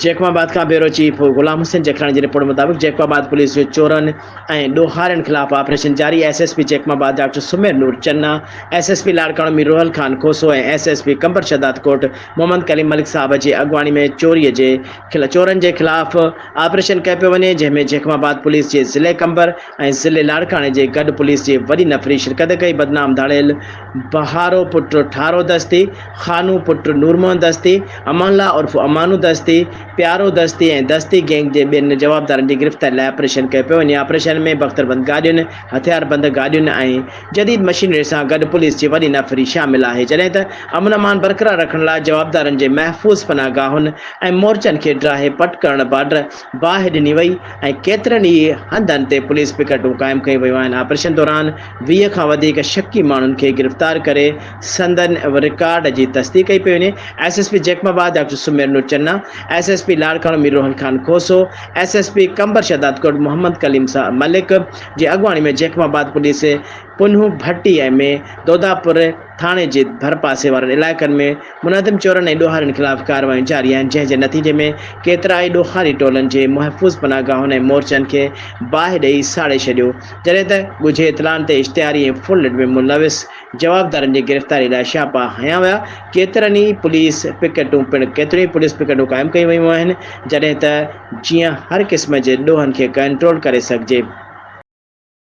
Jacobabad کان bureau chief Ghulam Hussain Jakhrani جي report مطابق جيڪب آباد پوليس جو چورن ۽ ڏوهارين خلاف آپريشن جاري S S P Jacobabad doctor Sameer Noor Channa, S S P Larkana Mir Rohal Khan Khoso ۽ S S P Qambar Shahdadkot Muhammad Kaleem Malik Sahib جي اڳواڻي ۾ چوري جي چورن جي خلاف آپريشن ڪيو پيو وڃي جنهن ۾ جيڪب آباد پوليس جي ضلعي قمبر ۽ ضلعي لاڙڪاڻي جي گڏ پوليس جي وڏي نفري شرڪت ڪئي بدنام ڌاڙيل بهارو پٽ ٺارو دستي، خانو پٽ نور محمد دستي، امان الله عرف امانو دستي، پيارو دستي ۽ دستي گينگ جي ٻين جوابدارن جي گرفتاري لاء آپريشن ڪيو پيو وڃي، آپريشن ۾ بختربند گاڏين، هٿياربند گاڏين ۽ جديد مشينري سان گڏ پوليس جي وڏي نفري شامل آهي، جڏهن ته امن امان برقرار رکڻ لاء جوابدارن جي محفوظ پناهه گاهن ۽ مورچن کي ڊاهي پٽ ڪرڻ بارڊر باهه ڏني وئي ۽ ڪيترن ئي هنڌن تي پوليس پڪيٽون قائم ڪيون ويون آهن، آپريشن دوران. ويهه کان وڌيڪ شڪي ماڻهن کي گرفتار ڪري سندن رڪارڊ جي تصديق ڪئي پئي وڃي، S S P Jacobabad doctor Sameer Noor Channa, S S P Larkana Mir Rohan Khan Khoso, S S P Qambar Shahdadkot Muhammad Kaleem Malik جي اڳواڻي ۾ جيڪب آباد پوليس پنهون ڀٽي ۽ مين دوداپور، ٿاڻي جي ڀرپاسي وارن علائقن ۾ منهدم چورن ۽ ڏوهارين خلاف ڪارروايون جاري آهن، جنهن جي نتيجي ۾ ڪيترائي ڏوهاري ٽولن جي محفوظ پناهه گاهن ۽ مورچن کي باهه ڏئي ساڙي ڇڏيو، جڏهن ته ڳجهي اطلاعن تي اشتهاري ۽ فون لڏ ۾ ملوث جوابدارن جي گرفتاري لاء ڇاپا هنيا ويا، ڪيترن ئي پوليس پڪيٽون پڻ ڪيتريون ئي پوليس پڪيٽون قائم ڪيون ويون آهن، جڏهن ته جيئن هر قسم جي ڏوهن کي ڪنٽرول ڪري سگهجي.